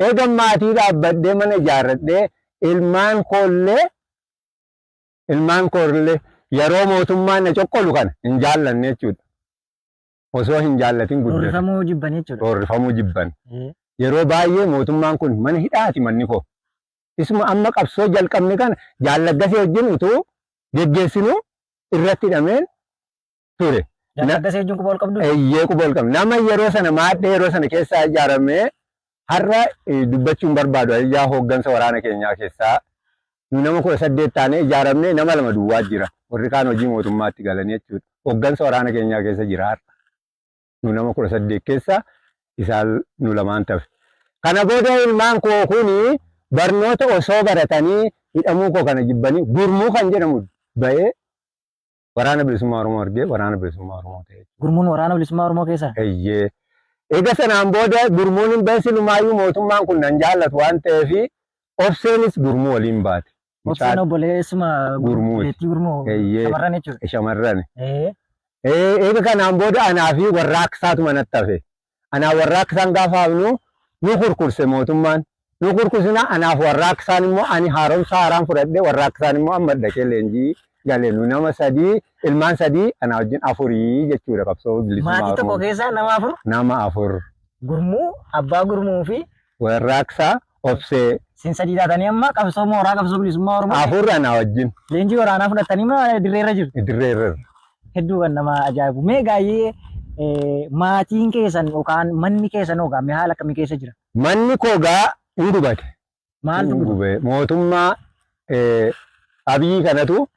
Eegan maatii dhaabbadhee mana ijaarradhee ilmaan koollee ilmaan koollee yeroo mootummaan na coqqolu kana hin jaallanne jechuudha. Osoo hin jaallatin guddatan. Roorrifamuu jibban jechuudha. Roorrifamuu jibban. Ee, Yeroo baay'ee mootummaan kun mana hidhaati manni koo. Isuma amma qabsoo jalqabne kana jaallaggasee wajjin utuu geggeessinuu irratti hidhameen ture. Jaal Taggasee wajjin quba wal qabdu? Eeyyee quba wal qabna. Nama yeroo sana maadhee yeroo sana keessaa ijaaramee har'a dubbachuun barbaadu ayyaa hooggansa waraana keenyaa keessaa nu nama kudha saddeet taanee ijaaramnee nama lama duwwaa jira. Warri kaan hojii mootummaatti galanii jechuudha. Hooggansa waraana keenyaa keessa jira har'a. Nu nama kudha saddeet keessa isaan nu lamaan tafe. Kana booda ilmaan koo kun barnoota osoo baratanii hidhamuu koo kana jibbanii gurmuu kan jedhamu ba'ee Waraana Bilisummaa Oromoo argee Waraana Bilisummaa Oromoo ta'e jechuudha. Gurmuun waraana bilisummaa Oromoo keessa. Eeyyee. Eega sanaan booda gurmuun hin bahe silumaayyuu mootummaan kun nan jaallatu waan ta'eef obseenis gurmuu waliin baate. Obseen Mucaa obboleessuma Gurmuuti. beettii gurmuu Eeyyee. shamarran jechuudha. shamarran. Ee, Ee, Eega kanaan booda anaa fi warraaqsaatu manatti hafe. Anaa warraaqsaan gaafa hafnu nu kurkurse mootummaan. Nu kurkusina anaaf warraaqsaan immoo ani haaromsa haaraan fudhadhe warraaqsaan immoo amma dhaqee leenjii gale nu nama sadii ilmaan sadii anaa wajjin afurii jechuudha qabsoo bilisummaa Maatii tokko Oromoo. keessaa nama afur Nama afur. gurmuu, abbaa gurmuu fi Warraaqsa Obsee. Isin sadii taatanii amma qabsoo mooraa qabsoo bilisummaa Oromoo. Afur anaa wajjin. Leenjii waraanaa fudhattanii ma dirree irra jirtu. Dirree irra. Hedduu kan nama ajaa'ibu. Mee gaayyee maatiin keessan yookaan manni keessan hoogaa mee haala akkamii keessa jira? Manni koo gaa hin gubate. Maaltu gubate? Mootummaa Abiyyi kanatu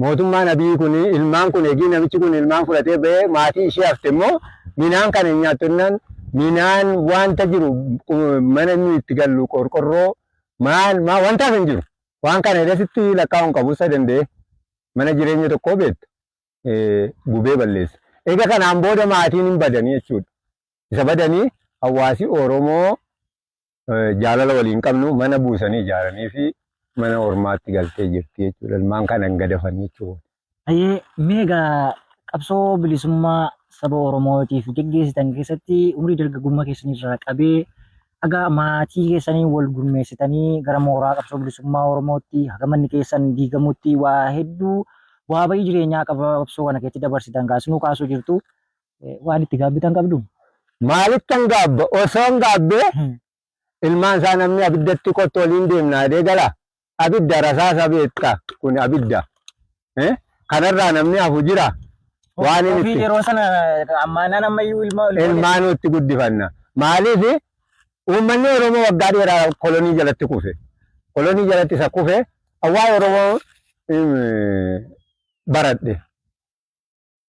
Mootummaan Abiyi kun ilmaan kun egii namichi kun ilmaan fudhatee ba'ee maatii ishee hafte immoo minaan kana hin nyaattu innaan minaan wanta jiru mana inni itti gallu qorqorroo maal maa wantaaf hin jiru. Waan kana edasitti lakkaa'uun qabu isa danda'e mana jireenya tokkoo beektu gubee balleessa. Egaa kanaan booda maatiin hin badanii jechuudha. Isa badanii hawaasi Oromoo jaalala waliin qabnu mana buusanii ijaaranii fi mana ormaatti galtee jirti jechuudha. Ilmaan kana hin gadafan jechuudha. Hayyee meegaa qabsoo bilisummaa saba Oromootiif geggeessitan keessatti umrii dargaggummaa keessanirraa qabee haga maatii keessanii wal gurmeessitanii gara mooraa qabsoo bilisummaa Oromootti haga manni keessan diigamutti waa hedduu waa bayii jireenyaa qabsoo kana keessatti dabarsitan kaasinuu kaasuu jirtu. waan itti gaabbitan qabdu? Maalittan gaabba? Osoon gaabbee ilmaan isaa namni abiddatti kottu waliin deemna jedhee gala. Abidda rasaasa beekta kun abidda. Eh? Kanarraa namni hafu jira. Waan inni Ofii itti yeroo sana ammaanaan ammayyuu ilma ol ilmaan nutti guddifanna. Maaliif uummanni Oromoo waggaa dheeraa kolonii jalatti kufe. Kolonii jalatti isa kufe awwaa Oromoo mm, baradhe.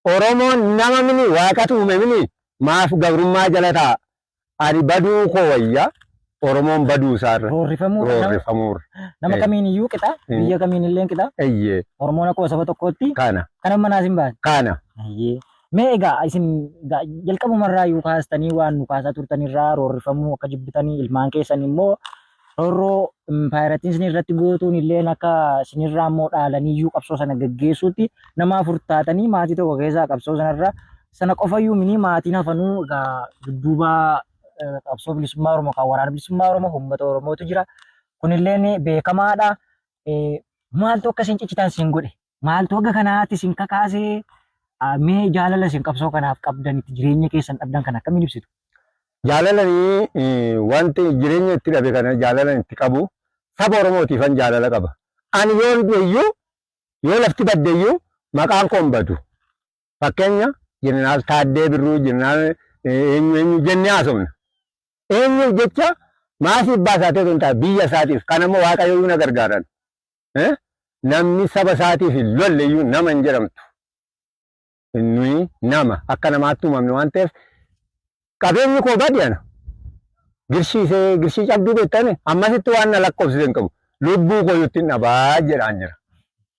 Oromoon nama mini waaqatu uume mini maaf gabrummaa jala taa'a? Ani baduu koo wayya Oromoon baduu isaa irra Roorrifamuu irra nama, roorrifamuu irra. nama Eh. kamiin iyyuu qixa, Mm. biyya kamiin illee qixa. Eyyee Oromoon akkuma saba tokkootti kana kan amma naas hin baane. kana Ayyee. Mee egaa isin ga- jalqabumarraa iyyuu kaastanii waan nu kaasaa turtanirraa roorrifamuu akka jibbitanii ilmaan keessan immoo rorroo impaayerattiin isin irratti gootuun illee akka isinirraa immoo dhaalaniyyuu qabsoo sana gaggeessuutti nama afur taatanii maatii tokko keessaa qabsoo sanarra sana qofayyuu minii maatiin hafanuu egaa dudduuba eh, qabsoo bilisummaa Oromoo kan waraana bilisummaa Oromoo uummata Oromootu jira. Kunilleen beekamaadha. Eh, Maaltu akka isin ciccitan isin godhe? maaltu haga kanaatti isin kakaasee ah, mee jaalala isin qabsoo kanaaf qabdan itti jireenya keessan dhabdan kan akkamiin ibsitu? Jaalalani eh, wanti jireenya itti dhabe kana jaalalan itti qabu saba Oromootiifan jaalala qaba. Ani yoon du'eyyuu yoo lafti baddeyyuu maqaan koo hin badu. Fakkeenya jeneraal Taaddee Birruu jeneraal eh, eenyu eenyu jennee haasofna. Eenyuuf jecha maasii abbaa isaatiif hin ta'a biyya isaatiif kan ammoo waaqayyoyyuu na gargaaran. Namni saba isaatiif hin lolle iyyuu nama hin jedhamtu. Nuyi nama akka namaatti uumamne waan ta'eef qabeenyi koo badi ana. Girshii see girshii cabduu beektani ammasitti waan na lakkoofsise hin qabu. Lubbuu koo yuttiin dhabaa jedhaan jira.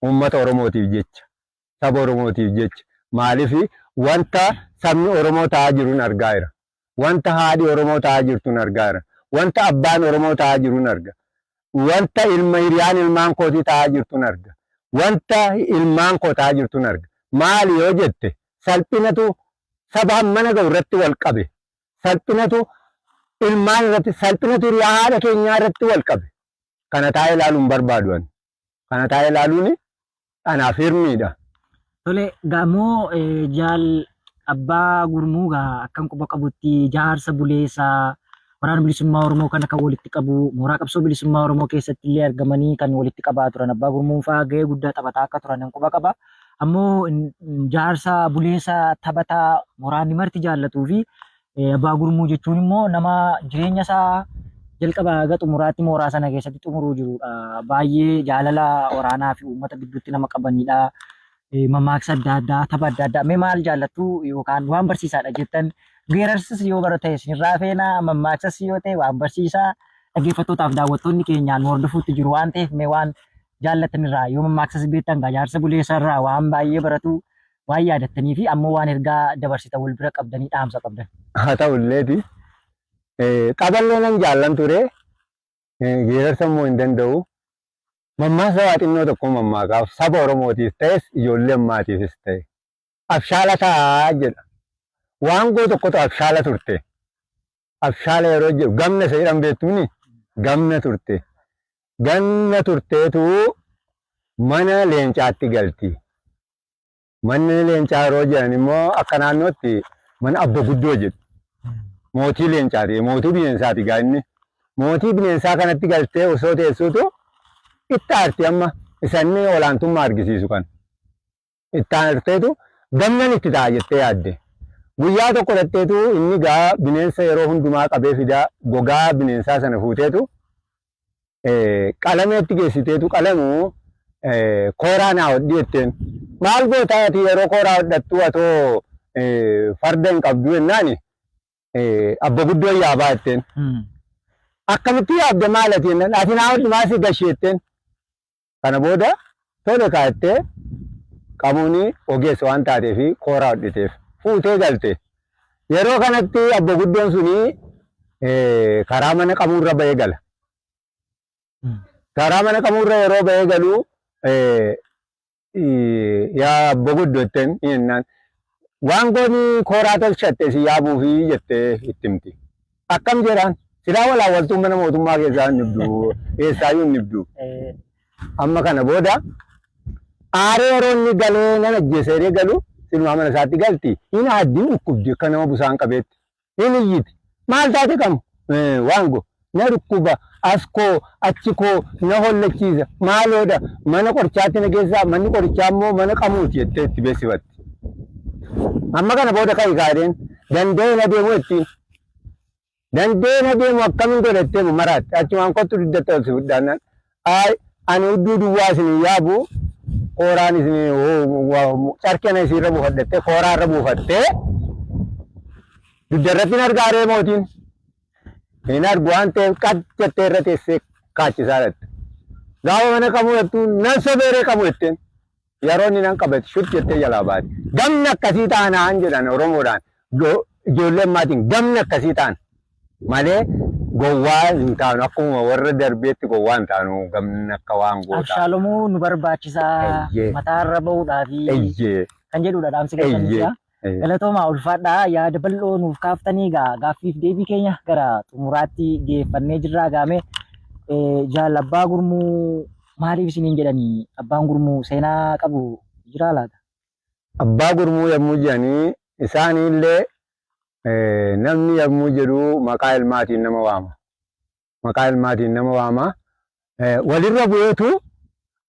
Uummata Oromootiif jecha. saba Oromootiif jecha. Maaliif wanta sabni Oromoo ta'aa jirun argaa jira. Wanta haadhi Oromoo ta'aa jirtun argaa jira. Wanta abbaan Oromoo ta'aa jirun arga. Wanta ilma hiriyaan ilmaan kootii ta'aa jirtun arga. Wanta ilmaan koo ta'aa jirtun arga. Maali yoo jette salphinatu saba hammana ga'u irratti wal qabe. Salphinatu ilmaan irratti salphinatu hiriyaa haadha keenyaa irratti wal qabe. Kana taa'ee ilaaluu hin barbaadu ani. kana taa'ee ilaaluun anaaf hirmiidha. Tole gamoo jaal abbaa gurmuu gaa akkan quba qabutti jaarsa buleessa waraana bilisummaa Oromoo kana kan walitti qabu mooraa qabsoo bilisummaa Oromoo keessatti illee argamanii kan walitti qabaa turan abbaa gurmuun fa'aa gahee guddaa taphataa akka turan quba qaba. Ammoo jaarsa buleessa taphataa waraanni marti jaallatuu fi Abbaa gurmuu jechuun immoo nama jireenya isaa jalqaba haga xumuraatti mooraa sana keessatti xumuruu jirudha. Baay'ee jaalala waraanaa fi uummata gidduutti nama qabanidha. Mammaaksa adda addaa, tapha adda addaa. Mee maal jaallattu yookaan waan barsiisaadha jettan geerarsas yoo bara ta'e isinirraa feena mammaaksas yoo ta'e waan barsiisaa dhaggeeffattootaaf daawwattoonni keenyaan hordofuutti jiru waan ta'eef mee waan jaallattanirraa yoo mammaaksas beektan gajaarsa buleessarraa waan baay'ee baratu waan yaadattanii fi ammoo waan ergaa dabarsitan wal bira qabdanii dhaamsa qabdan. Haa ta'ulleeti taphallee nan jaallan ture geerarsa immoo hin danda'u. Mammaasa waa xinnoo tokko mammaakaaf saba Oromootiif ta'es ijoollee ammaatiifis ta'e. Abshaala ta'a jedha. Waangoo tokkotu abshaala turte. abshaala yeroo jedhu gamna isa jedhan beektuuni gamna turte ganna turteetu mana leencaatti galti manni leencaa yeroo jedhan immoo akka naannootti mana abba guddoo jedhu mootii leencaati mootii bineensaati gaa inni mootii bineensaa kanatti galtee osoo teessuutu itti aarti amma isanni olaantummaa argisiisu kan itti aanarteetu gamnan itti ta'a jettee yaadde. Guyyaa tokko dhaqxeetu inni gaa bineensa yeroo hundumaa qabee fida gogaa bineensaa sana fuuteetu qalameetti geessiteetu qalamu kooraa naa hodhi jetteen. Maal gootaa ati yeroo kooraa hodhattu atoo farda hin qabdu jennaani abba guddoo yaabaa jetteen. Akkamitti yaabde maal ati jennaan ati naa hodhi maasii gashee jetteen. Kana booda tole kaa jettee Qamooni ogeessa waan taatee fi kooraa hodhiteef fuutee galte. Yeroo kanatti abbo guddoon suni karaa mana qamuurra ba'ee gala. Karaa mana qamuurra yeroo ba'ee galu yaa abbo guddo jetteen jennaan Waangoon kooraa tolchatte isin yaabuufi jettee itti himti. Akkam jedhaan silaa walaawwaltuun mana mootummaa keessaa hin dhibdu eessaayyuu hin dhibdu. Amma kana booda aaree yeroo inni galee nan ajjeesa jedhee galu silumaa mana isaatti galti hin aaddi hin dhukkubdi akka nama busaan qabeetti. hin iyyiti. Maal taate kam? Waan go. Na dhukkuba, as koo, achi koo, na hollachiisa, maaloodha, mana qorichaatti na geessaa, manni qorichaa immoo mana qamuuti jettee itti beeksifatti. Amma kana booda ka'i kaadheen danda'ee na deemu ittiin. Danda'ee na deemu akkamiin godhattee maraatte achumaan kottu diddatta ol si fudhaannaan Ayi ani udduu duwwaa isin hin yaabu, kooraan isin carqii ana isin irra buufadhattee kooraa irra buufattee dugda irratti hin argaa ree mootiin hin argu waan ta'eef qad jettee irra teessee kaachisaa dhatte. Gaafa mana qabu jettu nan sobeeree qabu jetteen Yeroo inni nan qabate shut jettee jalaa baate. Gamni akkasii taanaan jedhan Oromoodhaan go- ijoollee ammaatiin gamni akkasii taana malee gowwaa hin taanu akkuma warra darbeetti gowwaa hin taanu gamni akka waan gootaa. Abshaalomuu nu barbaachisaa Eeyyee. mataarra bahuudhaafi Eyyee kan jedhudha dhaamsi keessan Eeyyee. jecha. Hayyee. Galatoomaa ulfaadhaa yaada bal'oo nuuf kaaftanii gaa gaaffiif deebii keenya gara xumuraatti geeffannee jirraa gaame Eh, jaal abbaa gurmuu maaliif isiniin jedhanii abbaan gurmuu seenaa qabu jiraa laata? Abbaa gurmuu yommuu jedhanii isaaniillee eh, namni yommuu jedhu maqaa ilmaatiin nama waama. maqaa ilmaatiin nama waama. Walirra bu'eetu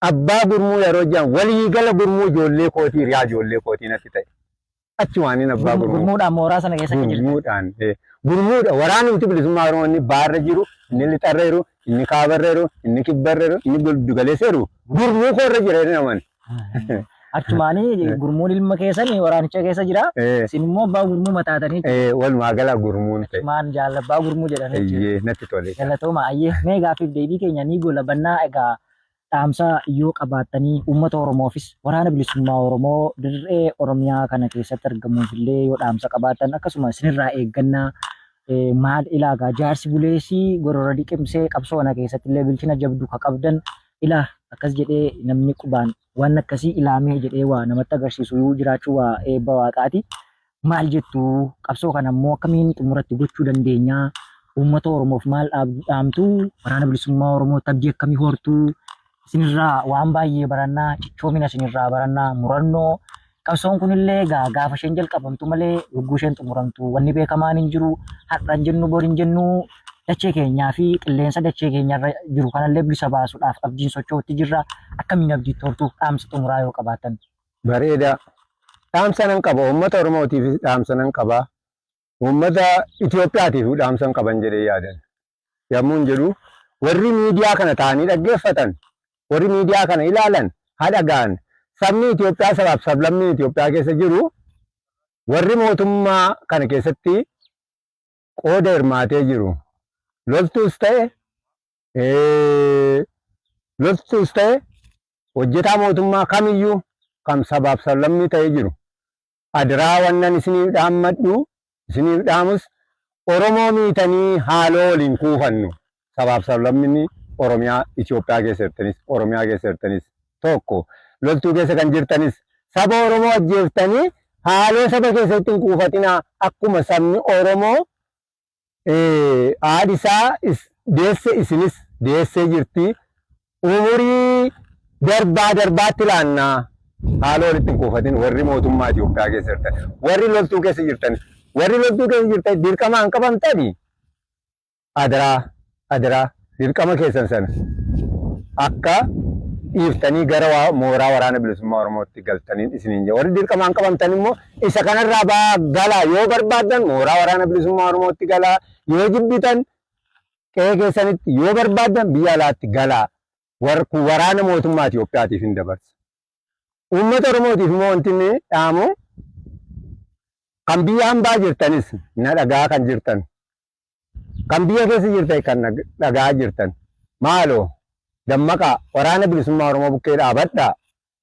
abbaa gurmuu yeroo jedhan waliigala gurmuu ijoollee kootii hiriyaa ijoollee kootii natti ta'e. Achi waaniin abbaa gurmuu. Gurmuudhaan mooraa sana keessa akka jirtan. Gurmuudhaan. Gurmuudha waraanumti bilisummaa Oromoo inni baarra jiru, inni lixarra jiru, inni kaabarra jiru, inni kibbarra jiru, inni giddugaleessa jiru gurmuu koorra jira jedhanii amanu. Achumaanii gurmuun ilma keessan waraanicha keessa jira. Eh, Isin immoo abbaa gurmuu mataatanii eh, walumaa gala gurmuun ta'e. maan jaalla abbaa gurmuu jedhanii jiru. Eeyyee, natti tole. Galatooma ayyee mee gaaffiif deebii keenya ni goolabannaa egaa dhaamsa yoo qabaattanii uummata Oromoofis waraana bilisummaa Oromoo dirree Oromiyaa kana keessatti argamuuf illee yoo dhaamsa qabaattan akkasuma isinirraa eeggannaa eh, maal ilaagaa jaarsi buleessii gorora diqimsee qabsoo kana keessatti illee bilchina jabdu ka qabdan Ilaa akkas jedhee namni qubaan waan akkasii ilaamee jedhee waa namatti agarsiisu yoo jiraachuu waa eebba waaqaati. Maal jettu qabsoo kana immoo akkamiin xumuratti gochuu dandeenya? Uummata Oromoof maal dhaamtu? Waraana bilisummaa Oromoo tabbii akkamii hortu? Isinirraa waan baay'ee barannaa, cichoomina isinirraa barannaa, murannoo Qabsoon kunillee egaa gaafa isheen jalqabamtu malee yogguu isheen xumuramtu wanni beekamaan hin jiru har'a hin jennu bor hin jennu dachee keenyaa fi qilleensa dachee keenyarra jiru kanallee bilisa baasuudhaaf abdiin socho'utti jirra akkamiin abdiitti hortuuf dhaamsa xumuraa yoo qabaatan. Bareedaa. Dhaamsa nan qaba. Uummata Oromootiifis dhaamsa nan qaba. Uummata Itoophiyaatiif dhaamsan qaban jedhee yaadan yammuun jedhu warri miidiyaa kana taa'anii dhaggeeffatan, warri miidiyaa kana ilaalan haa dhaga'an. Sabni Itoophiyaa sabaaf sablammiin Itoophiyaa keessa jiru warri mootummaa kana keessatti qooda hirmaatee jiru loltuus ta'e loltuus ta'e hojjetaa mootummaa kamiyyuu kam sabaaf sablammii ta'ee jiru Adraa wannan isiniif dhaammadhu, isiniif dhaamus Oromoo miitanii haaloo wal hin kuufannu. Sabaaf sablamminni Oromiyaa Itoophiyaa keessa jirtanis, Oromiyaa keessa jirtanis tokko. Loltuu keessa kan jirtanis saba Oromoo ajjeeftanii haaloo saba keessanitti hin kuufatinaa. Akkuma sabni Oromoo Haadhi isaa is deesse isinis deessee jirti. Umurii darbaa darbaatti laanna haala walitti hin kuufatin warri mootummaa Itoophiyaa keessa jirtan warri loltuu keessa jirtan warri loltuu keessa jirtan dirqamaan qabamtani adaraa Adaraa, dirqama keessan sana akka dhiiftanii gara mooraa Waraana Bilisummaa Oromootti galtaniin isiniin jedha. Warri dirqamaan qabamtan immoo isa kanarraa ba'aa galaa. Yoo barbaaddan mooraa Waraana Bilisummaa Oromootti galaa. Yoo jibbitan qe'ee keessanitti, yoo barbaaddan biyya alaatti galaa. Kun waraana mootummaa Itoophiyaatiif hin dabarsa. Uummata Oromootiif immoo wanti inni dhaamu kan biyya hambaa jirtanis na dhagaa kan jirtan Kan biyya keessa jirtan kan na dhaga'aa jirtan maaloo dammaqaa waraana bilisummaa Oromoo bukkee dhaabadhaa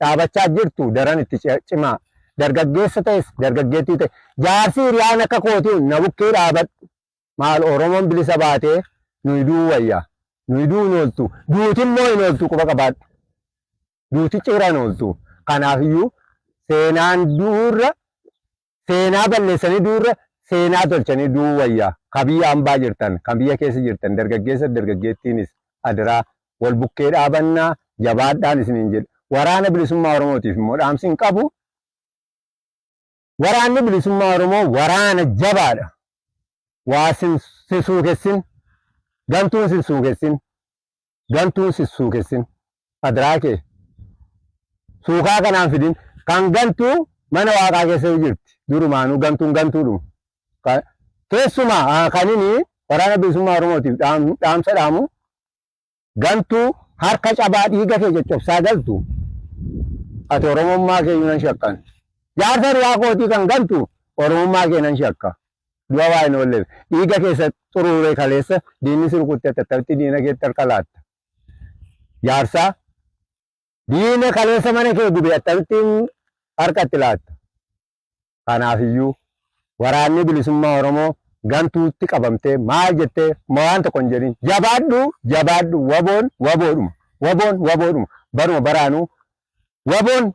dhaabachaa jirtu daran itti cimaa dargaggeessa ta'es dargaggeettii ta'e jaarsi hiriyaan akka kootii na bukkee dhaabadhu maal Oromoon bilisa baatee nuyi du'uu wayyaa nuyi du'uu hin ooltu duuti immoo hin ooltu quba qabaadhu duuti cira hin ooltu kanaafiyyuu seenaan du'uurra Seenaa balleessanii du'uu irra seenaa tolchanii du'uu wayya. Ka biyya ambaa jirtan, kan biyya keessa jirtan dargaggeessa fi dargaggeettiinis adaraa wal bukkee dhaabannaa jabaadhaan isiniin jedha. Waraana Bilisummaa Oromootiif immoo dhaamsin qabu, Waraanni Bilisummaa Oromoo waraana jabaadha. Waa sin suukessin, gantuun sin suukessin. gantuun si suukessin adraa kee suukaa kanaan fidin kan gantuu mana waaqaa keessa jirti durumaanuu gantuun gantuudhuma Ka- keessumaa ah, kan inni waraana bilisummaa oromootiif dhaam- dhaamsa dhaamu gantuu harka cabaa dhiiga kee coccobsaa galtu ati oromummaa kee iyyuu nan shakkan jaarsa duraa kootii kan gantu oromummaa kee nan shakka Du'a waa hin oolleef. Dhiiga kee isa xuruuree kaleessa diinni si rukutte ati attamitti diina keetti harka laatta? Jaarsaa, diina kaleessa mana kee gube attamittiin harka itti laatta? Kanaaf iyyuu Waraanni Bilisummaa Oromoo gantuutti qabamtee maal jettee ma waan tokko hin jedhin. Jabaadhu! Jabaadhu! Waboon waboodhuma. Waboon waboodhuma. Baruma baraanuu waboon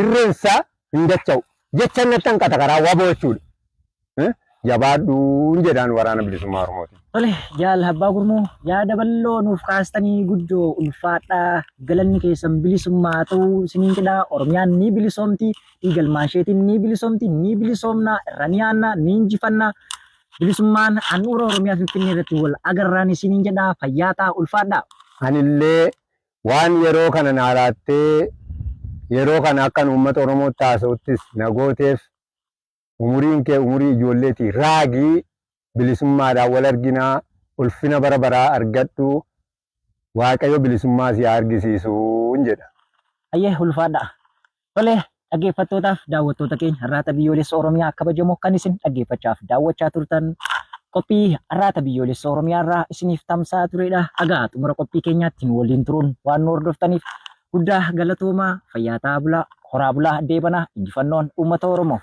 irreen isaa hin dacha'u. Jecha natti hanqata karaa waboo jechuudha. Eh, Jabaadhuun jedhaan waraana bilisummaa Oromooti. Tole jaal abbaa gurmuu yaada bal'oo nuuf kaastanii guddoo ulfaadhaa galanni keessan bilisummaa haa ta'u isiniin jedha oromiyaan ni bilisoomti dhiigalmaan isheetiin ni bilisoomti ni bilisoomna irra ni aanna ni injifanna bilisummaan handhuura oromiyaa finfinnee irratti wal agarraan isiniin jedha fayyaa ta'aa ulfaadhaa. Anillee Waan yeroo kana naa laattee yeroo kana akkan uummata Oromootti haasa'uttis na gooteef umuriin kee umurii ijoolleeti raagi bilisummaadhaan wal arginaa ulfina bara baraa argadhu Waaqayyo bilisummaa si haa argisiisuun jedha. Hayyee ulfaadhaa. Tole dhaggeeffattootaaf daawwattoota keenya Arraata Biyyoolessa Oromiyaa kabajamoo kan isin dhaggeeffachaaf daawwachaa turtan qophii Arraata Biyyoolessa Oromiyaa irraa isiniif tamsa'aa turedha. Hagaa xumura qophii keenyaatti nu waliin turuun waan nu hordoftaniif guddaa galatoomaa fayyaa ta'aa bulaa horaa bulaa deebanaa injifannoon uummata Oromoof.